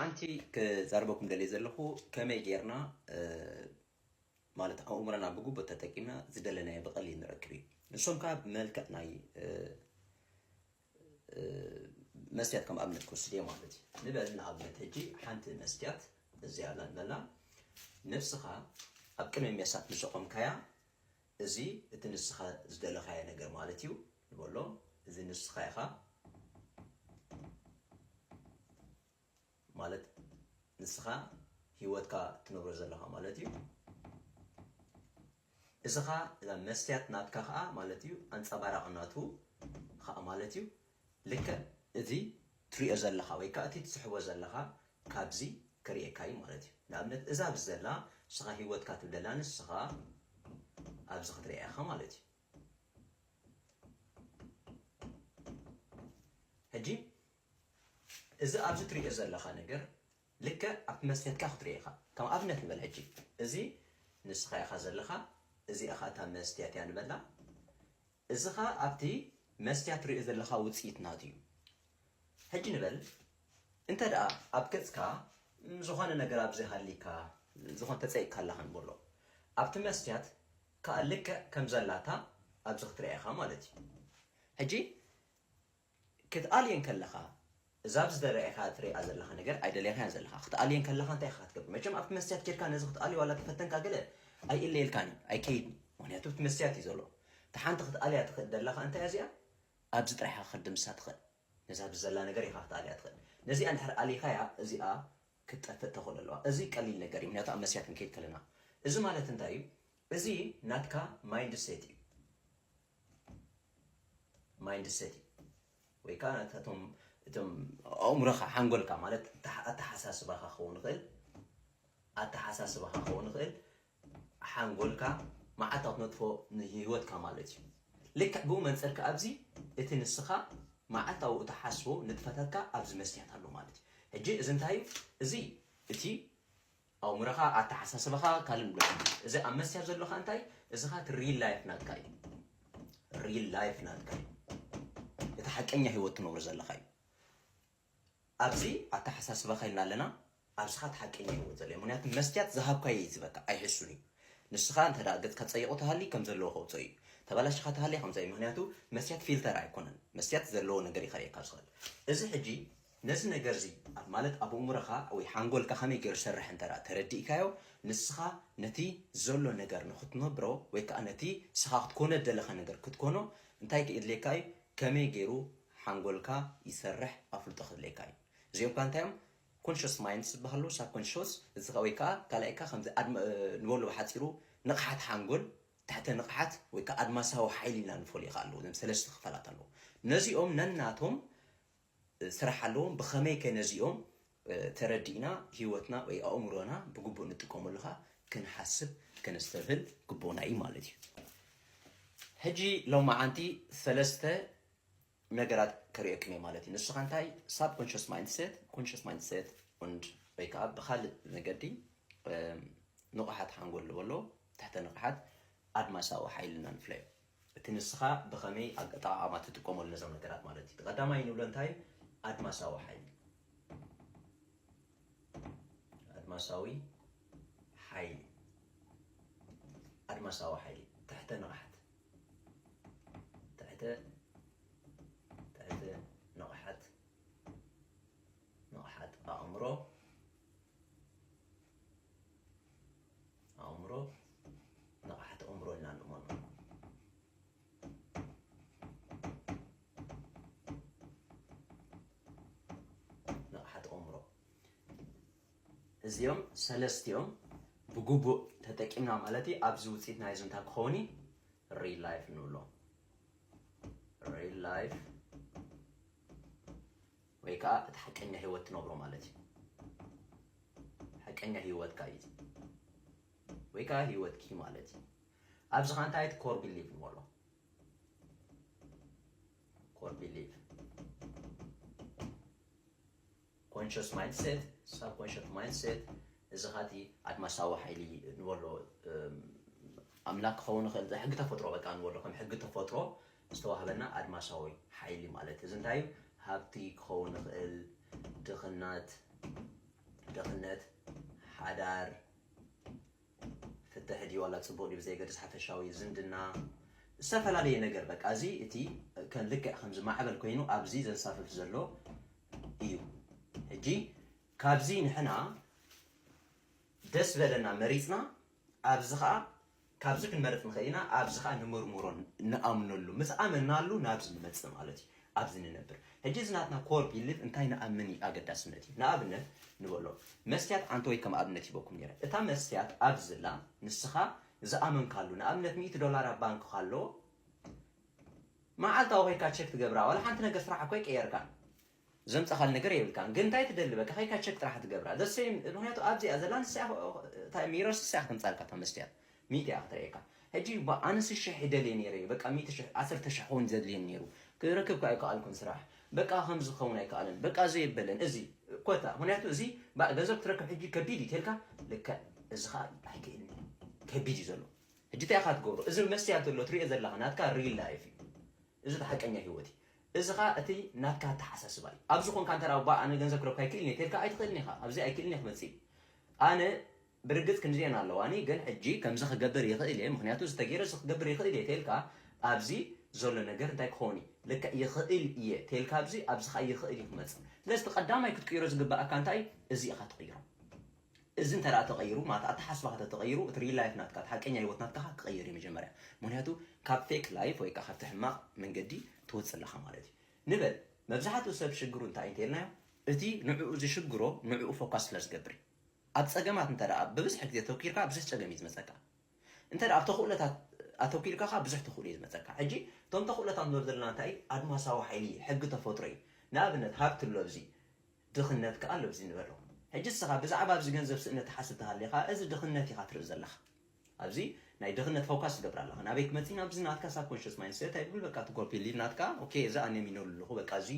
ሓንቲ ክዛረበኩም ደልየ ዘለኹ ከመይ ጌርና ማለት ኣእምሮና ብግቡእ ተጠቂምና ዝደለናዮ ብቐሊል ንረክብ እዩ። ንሶም ከኣ ብመልክዕ ናይ መስትያት ከም ኣብነት ክወስድ እየ ማለት እዩ። ንበል ንኣብነት ሕጂ ሓንቲ መስትያት እዚኣ ኣላ ንበላ ነብስኻ ኣብ ቅድሚ ሜሳት ምስ ኣቖምካያ እዚ እቲ ንስኻ ዝደለኻዮ ነገር ማለት እዩ ንበሎ እዚ ንስኻ ኢኻ ማለት ንስኻ ሂወትካ ትነብሮ ዘለኻ ማለት እዩ እዚኻ እዛ መስትያት ናትካ ኸኣ ማለት እዩ ኣንጸባራቒ ናቱ ኸኣ ማለት እዩ ልክዕ እዚ ትሪኦ ዘለኻ ወይ ከኣ እቲ ትስሕቦ ዘለኻ ካብዚ ክርእየካ እዩ ማለት እዩ ንኣብነት እዛ ኣብዚ ዘላ ንስኻ ሂወትካ ትብለላ ንስኻ ኣብዚ ክትርእያ ኢኻ ማለት እዩ ሕጂ እዚ ኣብዚ ትሪኦ ዘለኻ ነገር ልክዕ ኣብቲ መስትያትካ ክትሪኦ ኢኻ ከም ኣብነት ንበል ሕጂ እዚ ንስኻ ኢኻ ዘለኻ እዚኣ ኸኣ እታ መስትያት እያ ንበላ እዚ ኸኣ ኣብቲ መስትያት ትሪኦ ዘለኻ ውጽኢት ናቱ እዩ ሕጂ ንበል እንተ ደኣ ኣብ ገጽካ ዝኾነ ነገር ኣብዚ ሃሊካ ዝኾነ ተጸይቅካ ኣለኻ ንበሎ ኣብቲ መስትያት ካኣ ልክዕ ከም ዘላታ ኣብዚ ክትሪኣ ኢኻ ማለት እዩ ሕጂ ክትኣልየን ከለኻ እዛ ኣብዚ ተራኢኻ ትሪኣ ዘለኻ ነገር ኣይደለኻያን ዘለኻ ክትኣልየን ከለኻ እንታይ ኢኻ ክትገብር መቸም ኣብቲ መስትያት ኬድካ ነዚ ክትኣልዮ ዋላ ተፈተንካ ገለ ኣይእለየልካን እዩ ኣይከይድን ምክንያቱ እቲ መስትያት እዩ ዘሎ እቲ ሓንቲ ክትኣልያ ትኽእል ደላኻ እንታይ እዚኣ ኣብዚ ጥራሕ ክትድምሳ ትኽእል ነዛ ኣብዚ ዘላ ነገር ኢኻ ክትኣልያ ትኽእል ነዚኣ እንድሕር ኣሊኻያ እዚኣ ክትጠፍእ ተኽእሎ ኣለዋ። እዚ ቀሊል ነገር እዩ ምክንያቱ ኣብ መስትያት ክንከይድ ከለና። እዚ ማለት እንታይ እዩ? እዚ ናትካ ማይንድ ሴት እዩ። ማይንድ ሴት እዩ ወይ ከዓ ናታቶም እቶም ኣእምሮኻ ሓንጎልካ ማለት ኣተሓሳስባኻ ክኸውን ይኽእል ኣተሓሳስባኻ ክኸውን ይኽእል ሓንጎልካ መዓልታዊ ትነጥፎ ንህይወትካ ማለት እዩ። ልክዕ ብኡ መንጽር ከኣ ኣብዚ እቲ ንስኻ መዓልታዊ እትሓስቦ ንጥፈታትካ ኣብዚ መስትያት ኣሎ ማለት እዩ። ሕጂ እዚ እንታይ እዩ? እዚ እቲ ኣእምሮኻ፣ ኣተሓሳስባኻ፣ ካልእ ንብረት እዩ። እዚ ኣብ መስትያት ዘሎ ከኣ እንታይ እዩ? እዚ ከኣ እቲ ሪል ላይፍ ናትካ እዩ። ሪል ላይፍ ናትካ እዩ። እቲ ሓቀኛ ህይወት ትነብሮ ዘለኻ እዩ። ኣብዚ ኣታሓሳስባካ ኢልና ኣለና ኣብዚ ካኣ እቲ ሓቀኛ ሂወት ዘሎ እዩ ምክንያቱ መስትያት ዝሃብካዮ እዩ ዝህበካ ኣይሕሱን እዩ ንስካ እንተ ገጽካ ጸይቁ ተሃሊ ከም ዘለዎ ከውጾ እዩ ተባላሽካ ተሃልያ ከምዛ እዩ ምክንያቱ መስትያት ፊልተር ኣይኮነን መስትያት ዘለዎ ነገር እዩ ከርእየካ ዝክእል እዚ ሕጂ ነዚ ነገር እዚ ማለት ኣብ እእሙረካ ወይ ሓንጎልካ ከመይ ገሩ ዝሰርሕ እንተ ተረዲእካዮ ንስካ ነቲ ዘሎ ነገር ንክትነብሮ ወይ ካኣ ነቲ ንስካ ክትኮኖ ዝደለካ ነገር ክትኮኖ እንታይ ክእድልየካ እዩ ከመይ ገሩ ሓንጎልካ ይሰርሕ ኣፍልጦ ከድልየካ እዩ እዚኦም ከኣ እንታይ እዮም ኮንሸስ ማይንድስ ዝበሃሉ ሳብ ኮንሸስ እዚ ከኣ ወይ ከኣ ካልኣይ ከኣ ከምዚ ኣድመ ንበሎ ብሓጺሩ ንቕሓት ሓንጎል ትሕተ ንቕሓት ወይ ከኣ ኣድማሳዊ ሓይሊ ኢልና ንፈልዮ ከኣ ኣለዉ እዞም ሰለስተ ክፋላት ኣለዉ ነዚኦም ነናቶም ስራሕ ኣለዎም ብኸመይ ከ ነዚኦም ተረዲእና ህይወትና ወይ ኣእምሮና ብግቡእ ንጥቀመሉ ከኣ ክንሓስብ ከነስተብህል ግቡእና እዩ ማለት እዩ ሕጂ ሎማዓንቲ ሰለስተ ነገራት ከርእየክን እየ ማለት እዩ። ንስኻ እንታይ ሳብኮንሽስ ማይንድሴት፣ ኮንሽስ ማይንድሴት ኡንድ ወይ ከዓ ብካልእ መገዲ ንቑሓት ሓንጎል ዝበሎ ትሕተ ንቕሓት ኣድማሳዊ ሓይሊ ኢና ንፍለዮ። እቲ ንስኻ ብኸመይ ኣጠቓቕማ ትጥቀመሉ ነዞም ነገራት ማለት እዩ። ቀዳማይ ንብሎ እንታይ እዩ? ኣድማሳዊ ሓይሊ ኣድማሳዊ ሓይሊ ኣድማሳዊ ሓይሊ ትሕተ ንቕሓት ትሕተ ትሕተ ንቕሓት ንቕሓት ኣእምሮ ኣእምሮ ንቕሓት ኣእምሮ ኢልና ንእመኖ ንቕሓት ኣእምሮ እዚኦም ሰለስቲኦም ብግቡእ ተጠቂምና ማለት እዩ ኣብዚ ውፅኢት ናይ እዚ እንታይ ክኸውን እዩ ሪል ላይፍ ንብሎ ሪል ላይፍ ወይ ከዓ እቲ ሓቀኛ ህይወት ትነብሮ ማለት እዩ ሓቀኛ ህይወትካ እዩ ወይ ከዓ ህይወትኪ ማለት እዩ ኣብዚ ከዓ እንታይ እቲ ኮር ቢሊቭ ንበሎ ኮር ቢሊቭ ኮንሸስ ማይንድሴት፣ ሳብኮንሸት ማይንድሴት፣ እዚ ከኣ እቲ ኣድማሳዊ ሓይሊ ንበሎ ኣምላክ ክኸውን ይኽእል እዚ ሕጊ ተፈጥሮ በቃ ንበሎ ከም ሕጊ ተፈጥሮ ዝተዋህበና ኣድማሳዊ ሓይሊ ማለት እዚ እንታይ እዩ ሃብቲ ክኸውን ይኽእል ድኽናት ድኽነት ሓዳር ፍትሕ ድዩ ዋላ ጽቡቅ ድዩ ብዘየገድስ ሓፈሻዊ ዝምድና ዝተፈላለየ ነገር በቃ እዚ እቲ ከም ልክዕ ከምዚ ማዕበል ኮይኑ ኣብዚ ዘንሳፍፍ ዘሎ እዩ ሕጂ ካብዚ ንሕና ደስ በለና መሪጽና ኣብዚ ከዓ ካብዚ ክንመርጥ ንኽእል ኢና ኣብዚ ከዓ ንመርምሮ ንኣምነሉ ምስ ኣመናሉ ናብዚ ንመጽእ ማለት እዩ ኣብዚ ንነብር ሕጂ እዚ ናትና ኮር ቢልቭ እንታይ ንኣምን እዩ ኣገዳስነት እዩ ንኣብነት ንበሎ መስትያት ዓንተወይ ከም ኣብነት ሂበኩም ኔረ እታ መስትያት ኣብዚ ኣላ ንስኻ ዝኣመንካሉ ንኣብነት ሚእቲ ዶላር ኣብ ባንክ ካሎ መዓልታዊ ኮይካ ቸክ ትገብራ ዋላ ሓንቲ ነገር ስራሕ እኮ ኣይቀየርካን ዘምጻኻል ነገር የብልካን ግን እንታይ ትደሊ በቃ ከይካ ቸክ ጥራሕ ትገብራ ዘሰይም ምክንያቱ ኣብዚኣ ዘላ ንሳ ሚረስ ንሳ ክትምጻልካ እታ መስትያት ሚእቲ እያ ክትርእየካ ሕጂ እባ ኣነስ ሽሕ ይደልየ ኔረ በቃ ሚእቲ ሽሕ ዓሰርተ ሽሕ ክውን ዘድልየኒ ኔሩ ክረክብ ከኣ ኣይከኣልኩን ስራሕ በቃ ከምዚ ክኸውን ኣይከኣለን በቃ ዘየበለን እዚ ኮታ ምክንያቱ እዚ ባእ ገንዘብ ክትረክብ ሕጂ ከቢድ እዩ ተልካ ልክዕ እዚ ከኣ ኣይክእልን እዩ ከቢድ እዩ ዘሎ ሕጂ እንታይ ኢኻ ትገብሮ እዚ መስትያት ዘሎ ትሪኦ ዘለኻ ናትካ ሪል ላይፍ እዩ እዚ እቲ ሓቀኛ ሂወት እዩ እዚ ከኣ እቲ ናትካ ኣተሓሳስባ እዩ ኣብዚ ኮንካ እንተ ባእ ኣነ ገንዘብ ክረክብ ኣይክእልን እየ ተልካ ኣይትኽእልን ኢኻ ኣብዚ ኣይክእልን እየ ክመጽእ እዩ ኣነ ብርግጽ ክንድዚኤን ኣለዋኒ ግን ሕጂ ከምዚ ክገብር ይኽእል እየ ምኽንያቱ እዚ ተጌሩ እዚ ክገብር ይኽእል እየ ተልካ ኣብዚ ዘሎ ነገር እንታይ ክኸውን እዩ ልክዕ ይኽእል እየ ተልካ ኣብዚ ኣብዚ ከኣ ይኽእል እዩ ክመጽእ ስለዚ እቲ ቀዳማይ ክትቅይሮ ዝግበኣካ እንታይ እዩ እዚ ኢኻ ትቕይሮ እዚ እንተ ተቐይሩ ማለት ኣተሓስባኻ ተተቐይሩ እቲ ሪል ላይፍ ናትካ እቲ ሓቀኛ ህይወት ናትካ ኸ ክቐይር እዩ መጀመርያ ምክንያቱ ካብ ፌክ ላይፍ ወይ ከዓ ካብቲ ሕማቕ መንገዲ ትወፅእ ኣለኻ ማለት እዩ ንበል መብዛሕትኡ ሰብ ሽግሩ እንታይ እንተልናዮ እቲ ንዕኡ ዝሽግሮ ንዕኡ ፎካስ ስለ ዝገብር እዩ ኣብ ጸገማት እንተ ደኣ ብብዝሒ ግዜ ኣተኲርካ ብዙሕ ጸገም እዩ ዝመጸካ። እንተ ደኣ ኣብ ተኽእሎታት ኣተኲርካ ከኣ ብዙሕ ተኽእሎ እዩ ዝመጸካ። ሕጂ እቶም ተኽእሎታት ንብሎም ዘለና እንታይ እዩ? ኣድማሳዊ ሓይሊ እዩ፣ ሕጊ ተፈጥሮ እዩ። ንኣብነት ሃብቲ ኣሎ ኣብዚ፣ ድኽነት ከኣ ኣሎ ኣብዚ ንበሎ። ሕጂ ንስኻ ብዛዕባ ኣብዚ ገንዘብ ስእነት ትሓስብ ተሃሊኻ እዚ ድኽነት ኢኻ ትርኢ ዘለኻ። ኣብዚ ናይ ድኽነት ፎካስ ትገብር ኣለኻ ናበይ ክመጺ ናብዚ ናትካ ሳብኮንሸስ ማይንድ ሴት ኣይብል በቃ እቲ ኮር ቢሊቭ ናትካ ኦኬ እዚ ኣነ ሚነሉ ኣለኹ በቃ እዚ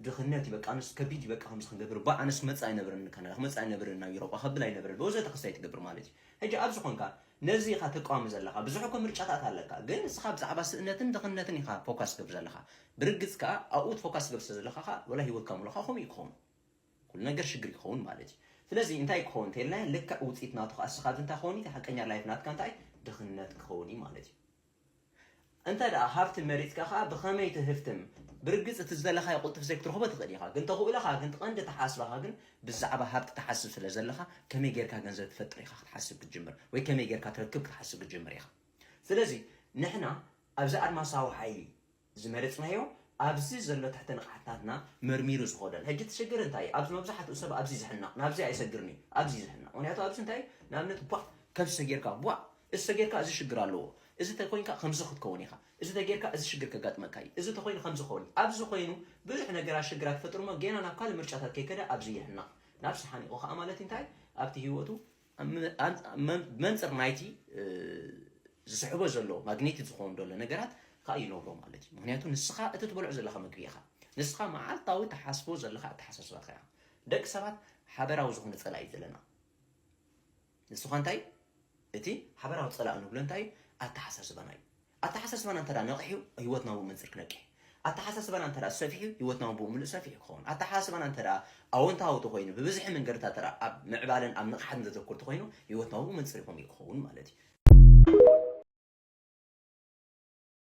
ድኽነት እዩ በቃ ኣነስ ከቢድ እዩ በቃ ከምዚ ክንገብር ባ ኣነስ ክመጽእ ኣይነብርን ንካናዳ ክመጽእ ኣይነብርን ናብ ኢሮጳ ከብል ኣይነብርን ብወዘተ ክስታይ ትገብር ማለት እዩ ሕጂ ኣብዚ ኮንካ ነዚ ኢኻ ተቃዋሚ ዘለኻ ብዙሕ እኮ ምርጫታት ኣለካ ግን ንስኻ ብዛዕባ ስእነትን ድኽነትን ኢኻ ፎካስ ትገብር ዘለኻ ብርግጽ ከኣ ኣብኡ ፎካስ ትገብር ስለ ዘለኻ ከኣ ወላ ሂወትካ ሙሉኻ ከምኡ እዩ ክኸውን ኩሉ ነገር ሽግር ይከውን ማለት እዩ ስለዚ እንታይ ክከውን እንተይልናዮ ልክዕ ውጺኢት ናቱ ከኣ እስካ እዚ እንታይ ክከውን እዩ እቲ ሓቀኛ ላይፍ ናትካ እንታይ እዩ ድክነት ክከውን እዩ ማለት እዩ እንተ ደኣ ሃብቲ መሪጽካ ከኣ ብከመይ ትህፍትም ብርግጽ እቲ ዝደለካዮ ቁልጡፍ ዘይክትረክቦ ትክእል ኢካ ግን ተክእለካ ግን ትቀንዲ ተሓስባካ ግን ብዛዕባ ሃብቲ ትሓስብ ስለ ዘለካ ከመይ ጌርካ ገንዘብ ትፈጥር ኢካ ክትሓስብ ክትጅምር ወይ ከመይ ጌርካ ትረክብ ክትሓስብ ክትጅምር ኢካ ስለዚ ንሕና ኣብዚ ኣድማሳዊ ሓይሊ ዝመረጽናዮ ኣብዚ ዘሎ ትሕተ ንቕሓትታትና መርሚሩ ዝኸዶን ሕጂ እቲ ሽግር እንታይ እዩ ኣብዚ መብዛሕትኡ ሰብ ኣብዚ ዝሕነቕ ናብዚ ኣይሰግርን እዩ ኣብዚ እዩ ዝሕነቕ ምክንያቱ ኣብዚ እንታይ እዩ ንኣብነት ቧእ ከምዚ ተጌርካ ቧእ እዚ ተጌርካ እዚ ሽግር ኣለዎ እዚ ተኮይንካ ከምዚ ክትከውን ኢኻ እዚ ተጌርካ እዚ ሽግር ከጋጥመካ እዩ እዚ ተኮይኑ ከምዚ ክኸውን እዩ ኣብዚ ኮይኑ ብዙሕ ነገራት ሽግራት ይፈጥርሞ ጌና ናብ ካልእ ምርጫታት ከይከደ ኣብዚ ይሕነቕ ናብዚ ሓኒቑ ከኣ ማለት እንታይ ኣብቲ ሂወቱ ብመንፅር ናይቲ ዝስሕቦ ዘሎ ማግኔቲክ ዝኸውን ዘሎ ነገራት ከዓ ይነብሮ ማለት እዩ ምክንያቱ ንስኻ እቲ ትበልዖ ዘለኻ ምግቢ ኢኻ ንስኻ መዓልታዊ ተሓስቦ ዘለኻ ኣተሓሳስባ ከያ ደቂ ሰባት ሓበራዊ ዝኾነ ፀላኢ እዩ ዘለና ንስኻ እንታይ እቲ ሓበራዊ ፀላኢ ንብሎ እንታይ እዩ ኣተሓሳስባና እዩ ኣተሓሳስባና እንተድኣ ነቒሑ ህይወትና ብኡ መንጽር ክነቅሕ ኣተሓሳስባና እንተድኣ ሰፊሑ ህይወትናውን ብኡ ምሉእ ሰፊሑ ክኸውን ኣተሓሳስባና እንተድኣ ኣወንታዊ ተኾይኑ ብብዝሒ መንገድታት ተድኣ ኣብ ምዕባለን ኣብ ንቕሓትን ዘተኩር ተኾይኑ ህይወትና ብኡ መንጽር ከምኡ እዩ ክኸውን ማለት እዩ።